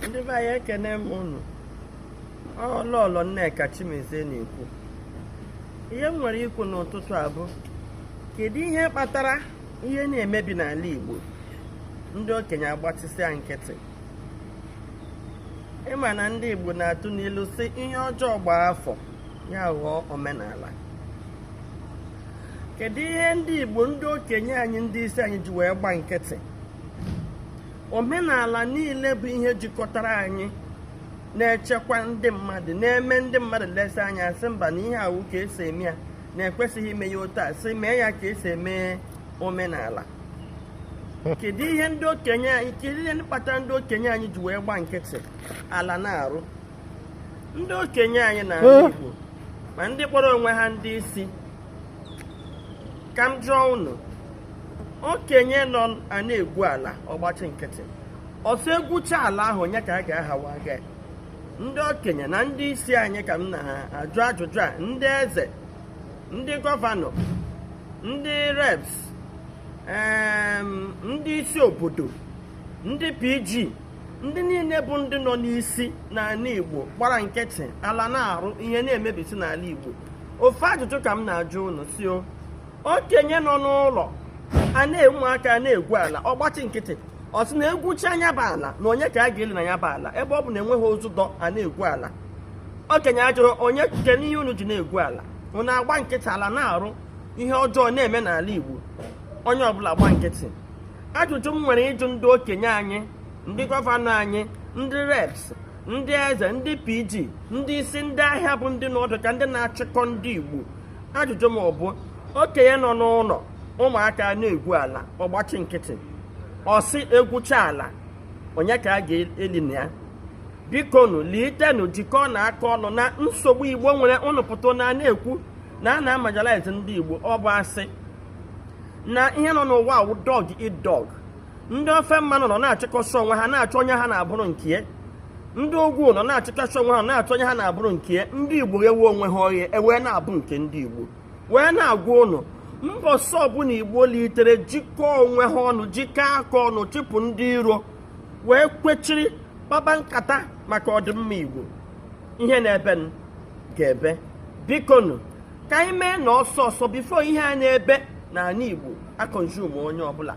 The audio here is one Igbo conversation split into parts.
ndị be anyị ekene m unu ọ lọlọ nneka chimezie na-ekwu ihe m nwere ikwu n'ụtụtụ a bụ kedu ihe kpatara ihe na-emebi n'ala igbo ndị okenye agbatịsịa nkịtị ị ma na ndị igbo na-atụ n'ilu sị ihe ọjọọ gbaa afọ ya aghọọ omenala kedu ihe ndị igbo ndị okenye anyị ndị isi anyị ji wee gba nkịtị omenala niile bụ ihe jikọtara anyị na-echekwa ndị mmadụ na-eme ndị mmadụ lesa anya asị mba na ihe awụ ka esi eme ya na ekwesịghị ime ya otu a sị mee ya ka esi eme omenala kedu ihe ndị okenye anyị kedu ihe kpatara ndị okenye anyị ji wee gba nkịtị ala na-arụ ndị okenye anyị na ala eh? Igbo ma ndị kpọrọ onwe ha ndị isi ka m jụọ unu okenye nọ a na-egwu ala ọ gbachi nkịtị ọ sị egwucha ala ahụ onye ka a ga-ahawa ga ndị okenye na ndị isi anyị ka m na-ajụ ajụjụ a ndị eze ndị gọvanọ ndị reps em, ndị isi obodo ndị pg ndị niile bụ ndị nọ n'isi n'ala igbo gbara nkịtị ala na-arụ ihe na-emebisi n'ala igbo ofu ajụjụ ka m na-ajụ unu sị o okenye nọ n'ụlọ a na ụmụaka a na-egwu ala ọ gbachi nkịtị ọ sị na egwucha nya bụ ala na onye ka a ga-eli na ya bụ ala ebe ọ bụ na enweghị ozu dọ a na-egwu ala okenye ajụrụ onye nke n'ihe unu ji na-egwu ala unu agba nkịtị ala na-arụ ihe ọjọọ na-eme n'ala Igbo onye ọbụla agba nkịtị ajụjụ m nwere ịjụ ndị okenye anyị ndị gọvanọ anyị ndị reps ndị eze ndị pg ndị isi ndị ahịa bụ ndị nọ dị ka ndị na-achịkọ ndị Igbo ajụjụ m ọ bụ okenye nọ n'ụlọ ụmụaka na-egwu ala ọ gbachi nkịtị ọ sị egwucha ala onye ka a ga-eli na ya bikonu litenụ jikọọnụ aka ọnụ na nsogbu igbo nwere ụnụ pụta na na-ekwu na a na-amarginalize ndị igbo ọ bụ asị na ihe nọ n'ụwa a wụ dog eat dog ndị ofe mmanụ nọ na-achịkọsị onwe ha na-achọ onye ha na-abụrụ nke ya ndị ugwu nọ na-achịkọsị onwe ha na-achọ onye ha na-abụrụ nke ya ndị igbo ewe onwe ha ọhịa ewee na-abụ nke ndị igbo wee na-agwa ụnụ mbọsị ọbụla igbo litere jikọọ onwe ha ọnụ jikọọ aka ọnụ chịpụ ndị iro wee kwechiri kpaba nkata maka ọdịmma igbo ihe na-ebe ga-ebe bikonu ka anyị mee na ọsọ ọsọ bifo ihe a na-ebe n'ani Igbo akọnzum onye ọbụla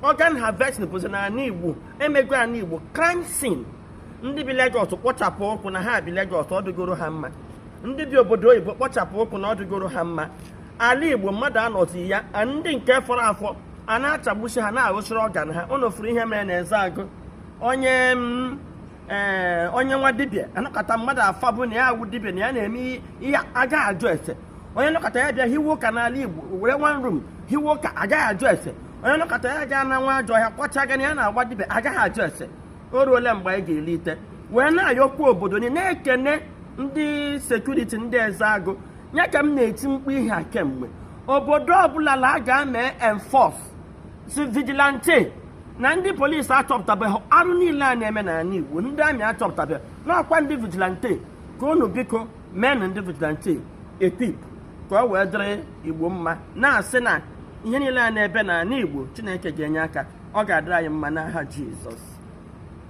organ harvesting bụzi n'ani Igbo emego ani Igbo crime scene ndị bi Lagos kpọchapụ ụkwụ na ha bi Lagos ọ dịgoro ha mma ndị bi obodo oyibo kpọchapụ ụkwụ na ọ dịgoro ha mma ala Igbo mmadụ anọzi ya ndị nke fọrọ afọ a na-achagbusi ha na-aghụsịrị ọgan ha unu fụrụ ihe mere na Ezeagụ onye mm, ee onye nwa dibịa anọkata mmadụ afa bụ na ya awụ dibịa na ya na-eme ihe a gaghị ajụ ese onye nọkata ya bịa hiwe ụka n'ala Igbo were one room hiwe ụka a gaghị ajụ ese onye nọkata ya gaa na nwa ajọ ọhịa kwacha gana ya na-agba dibịa a gaghị ajụ ese o ruole mgbe anyị ga-elite wee na-ayọkwu obodo niile na-ekene ndị sekuriti ndị Ezeagụ ya ka m na-eti mkpu ihe a kemgbe obodo ọbụla la a ga-eme enforce si vigilante na ndị polis achọpụtabeghị arụ niile a na-eme n'ani Igbo ndị amị achọpụtabeghị na ọ kwa ndị vigilante ka unu biko meenụ ndị vigilante equip ka o wee dịrị Igbo mma na-asị na ihe niile a na-ebe n'ani Igbo Chineke ga-enye aka ọ ga-adịrị anyị mma n'aha Jizọs